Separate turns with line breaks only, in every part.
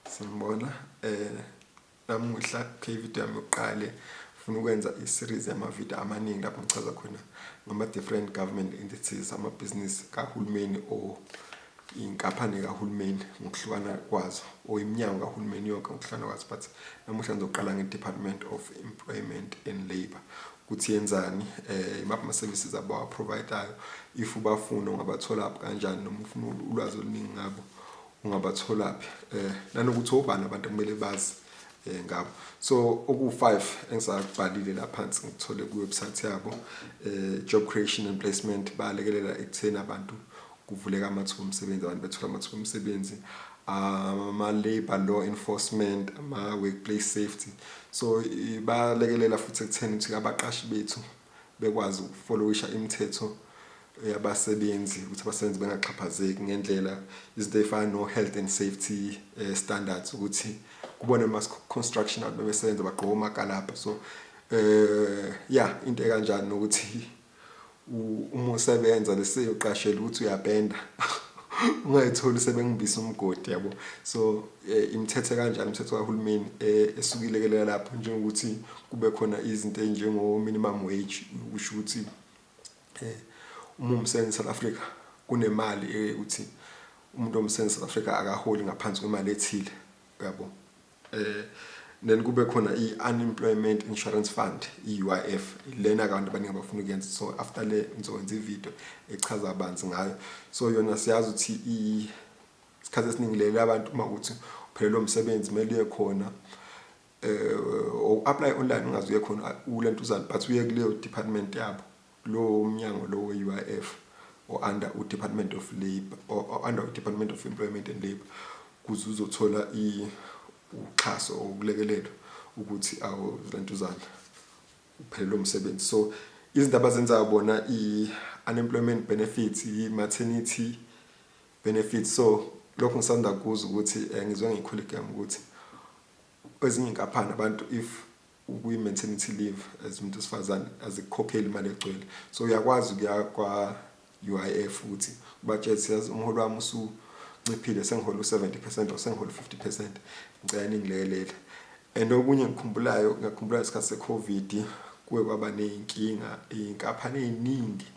Sanibona eh namuhla kuyivideo yami yokuqale funa ukwenza i-series yamavideo amaningi lapho ngichaza khona ngama-different government entities amabhizinisi kahulumeni or inkampani kahulumeni ngokuhlukana kwazo or iminyango kahulumeni yonke ngokuhlukana kwazo but namuhla ngizoqala nge-department of employment and labour ukuthi yenzani um imaphi ama-services abawaprovidayo if ubafuna ungabatholaphi kanjani noma ufuna ulwazi oluningi ngabo ungabatholaphi eh nanokuthi obani abantu kumele bazi eh ngabo so oku5 engisakubhalile la phansi ngithole ku website yabo eh job creation and placement balekelela ekutheni abantu kuvuleka amathuba omsebenzi abantu bethola amathuba omsebenzi ama labor law enforcement ama workplace safety so balekelela futhi ekutheni ukuthi abaqashi bethu bekwazi ukufolowisha imithetho yabasebenzi ukuthi abasebenzi bengaxhaphazeki ngendlela izinto ey'fana no-health and safety eh, standards ukuthi kubona ama-construction abantu bebesebenza bagqoka omakalabha so eh ya into ekanjani nokuthi uma usebenza leseyoqashela ukuthi uyapenda ungayitholi sebengibisa umgodi yabo so Eh, imithethe kanjani imithetho kahulumeni eh, esukilekelela lapho njengokuthi kube khona izinto ezinjengo-minimum wage kusho ukuthi um uma umsebenzi south africa kunemali ekuthi umuntu omsebenzi south africa akaholi ngaphansi kwemali ethile yabo um then kube khona i-unemployment insurance fund i-uif lena abantu abaningi abafuna ukuyenza so after le ngizokwenza ividiyo echaza banzi ngayo so yona siyazi ukuthi Isikhathi esiningi leli abantu uma ukuthi uphelelwa umsebenzi kumele uye khona eh, or apply online ungaze uye khona ulentuzana but uye kuleyo department yabo lowo mnyango lowo we-UIF or under u-Department of Labour or, or under u-Department of Employment and Labour kuze uzothola uxhaso or ukulekelelwa ukuthi awuzentuzana uphelelwe umsebenzi so izinto abazenzayo bona i-unemployment benefits i-maternity Benefits so lokhu ngisanda kuzwa ukuthi eh, ngizwe ngikhulu igama ukuthi kwezinye inkaphani abantu if ukuyi maternity leave as umuntu wesifazane azikukhokheli imali egcwele so uyakwazi ukuya kwa UIF futhi ubatshela siyazi umholo wami usu nciphile sengihola u70% or sengihola u50% ngicela ningilekelela and okunye ngikhumbulayo ngakhumbula isikhathi secovid kuwe kwaba neyinkinga inkaphani eziningi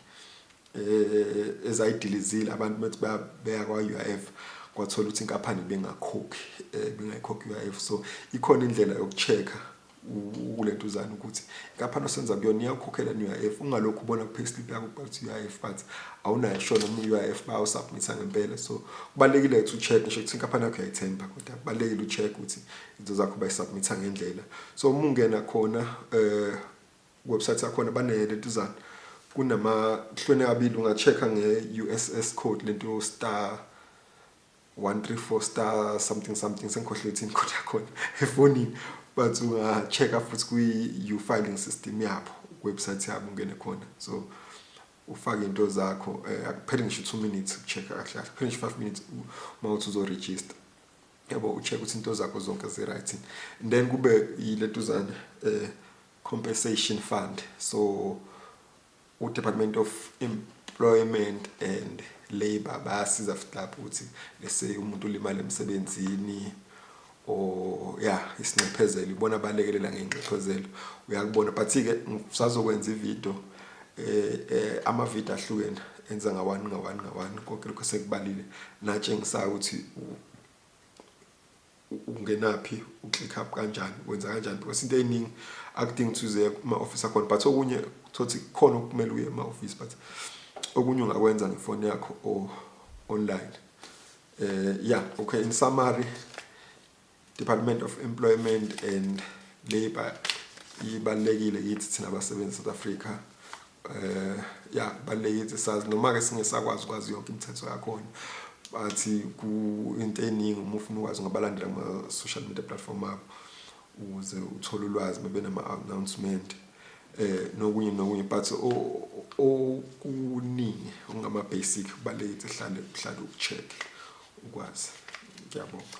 eh, ezayidilizile abantu bethi beya kwa-UIF kwathola ukuthi inkampani bengakhokhi eh, bengayikhokhi UIF so ikhona indlela yokuchecka ukulentuzana ukuthi inkampani osenza kuyona iyakukhokhela ne-UIF ungalokhu ubona ku-payslip yakho kubhala ukuthi UIF but awunayo sure noma i-UIF bayawusubmitha ngempela so kubalulekile ukuthi u-check ngisho ukuthi inkampani yakho uyayithemba kodwa kubalulekile u-check ukuthi izinto zakho bayisubmitha ngendlela so uma ungena khona um website yakhona bane lentuzana kunamahlwene abili unga-check-a nge-uss code lento star 134 star something something sengikhohlwe ithini code yakhona efonini but unga-check-a futhi kwi-u-filing system yabo website yabo ungene khona so ufake into zakho um akuphele ngisho two minutes uku-check-a kahle kahle kuphele ngisho five minutes uma uthi uzoregister yabo u-check ukuthi into zakho zonke zi-right then kube yilentuzane um eh, Compensation Fund. So uDepartment of Employment and Labour bayasiza futhi lapho ukuthi lese umuntu ulimala emsebenzini or ya isinxephezelo ibona balekelela ngenxephezelo uyakubona but ke ngisazokwenza ivideo eh, eh ama video ahlukene enza ngawani ngawani ngawani konke lokho sekubalile natshengisayo ukuthi ukungenaphi u-click up kanjani wenza kanjani because into eyiningi akudingi ukuthi uze kuma-office akhona but okunye thothi khona okumele uye ema-office but okunye ungakwenza ngefoni yakho or online eh yeah okay in summary Department of Employment and Labour ibalekile yithi thina basebenzi South Africa eh ya balekile sazi noma ke singesakwazi kwazi yonke imithetho yakhona bathi ku into eningi uma ufuna ukwazi ngabalandela ama social media platform abo ukuze uthole ulwazi bebe nama announcement eh nokunye nokunye but okuningi ongama basic balekile hlale hlale ucheck ukwazi ngiyabonga